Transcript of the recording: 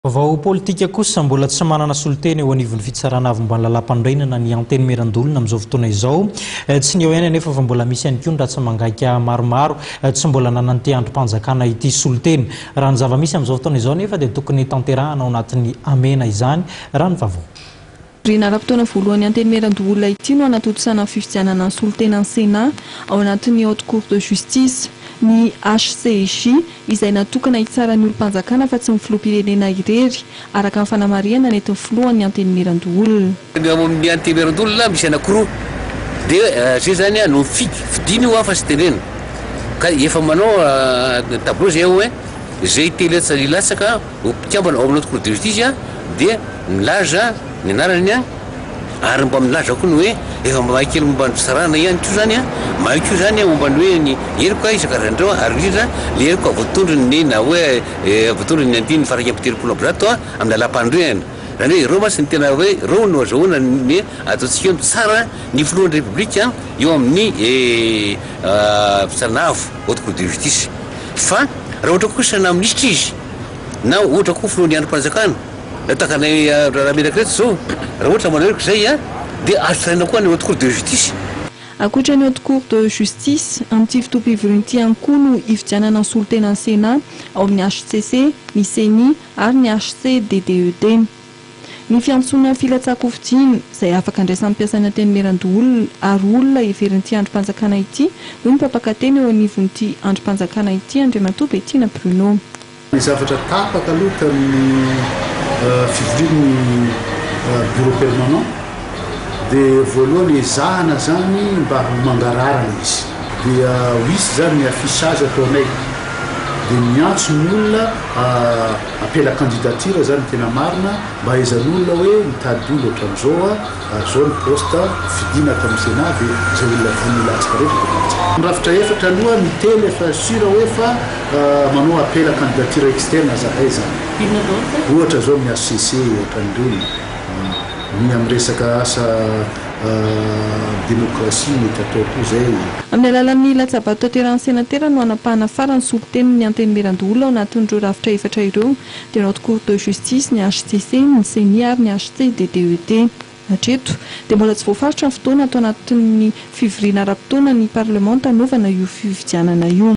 Vao politika kosa, mbola tsy manana solontena eo anivon'ny Fitsarana Avomban'ny Lalàmpanorenana ny Antenimierandolona amin'izao fotoana izao. Tsy ny eo ihany anefa fa mbola misy ihany koa ny ratsa-mangaika maromaro tsy mbola nanantia andrim-panjakana ity solontena. Raha ny zava-misy amin'izao fotoana izao anefa dia tokony tanterahana ao anatin'ny hamehana izany raha ny vaovao. Renara mpitaona voalohan'ny Antenimierandoholona ity no hanatontosana ny fifidianana ny solontenan'ny Sénat ao anatin'ny Haute Cour de Justice. Ny HCJ, izay natokana hitsara ny olom-panjakana fa tsy ny filoham-pirenena irery, araka ny fanamarihana nentin'ny filohan'ny Antenimierandoholona. Ny ao amin'ny Antenimierandoholona misy anankiroa dia zay izany no mifidy, fidiny io fa tsy tenenina ka efa manao tableau zay ao hoe zay te hilatsaka hilatsaka. Ny mpikambana ao amin'ilay Cour de Justice dia milaza ny anarany ary mba milaza koa ny hoe efa mahay kely momba ny fisarahana ihany koa izany, mahay koa izany momba ny hoe ny heloka isan-karazany ireo ary indrindra ny heloka voatondron'ny na hoe voatondron'ny andininy faha iraika amby telopolo amby zato amin'ny lalàmpanorenana. Izany hoe ireo mantsy no tena hoe ireo no azahoana ny ataontsika hoe mitsara ny filohan'ny Repoblika eo amin'ny fitsarana avo, Haute Cour de Justice. Fa raha ohatra kosa na minisitra izy, na ohatra koa filohan'ny andrim-panjakana na takanay Ramirakiretsy zao raha ohatra manao heloka izay an dia azo tsaraina koa any haute cour de justice. Ankoatra ny haute cour de justice, amin'ity fotoam-pivoriana ity ihany koa no hifidianana ny solontenan'ny Sénat ao amin'ny hcc, ny Ceni ary ny hcc-DDED. Ny fiantsoana filatsahan-kofidiana, izay afaka andraisan'ny mpiasan'ny Antenimierandoholona ary olona heverin'ity andrim-panjakana ity, hoy ny mpampaka teny eo anivon'ity andrim-panjakana ity, Andriamatoa Bettina Bruno. Ny zavatra tapaka aloha tamin'ny fivorian'ny Bureau permanent dia voalohany ezahana izany mba ho mangarahara izy. Dia ho hisy izany ny affichage ataonay, dia miantso ny olona Apela candidature zany tena marina mba ahaizan'olona hoe mitady olona otran'izao a ary zao ny poste fidina ato amin'ny senat de zay olona vonona hilatsaka rehetra de milatsaka. Mirafitra efatra aloha ny telo efa sur hoe fa manao apela candidature externe zahay zany. Inona daholo zay? Ohatra zao amin'ny HCC otran'ireny, ny amin'ny resaka asa. Demokrasia mety atao koa izay. Amin'ny alalan'ny latsabato tanterahany senatera no hanapahana farany ny solontenin' ny Antenimierandoholona ao anatin'ireo rafitra efatra ireo, dia ny Haute Cour de Justice, ny hcc, ny Ceni ary ny HCDDET. Hatreto, dia mbola tsy voafaritra ny fotoana ato anatin'ny fivoriana ara-potoana ny parlemanta hanaovana io fifidianana io.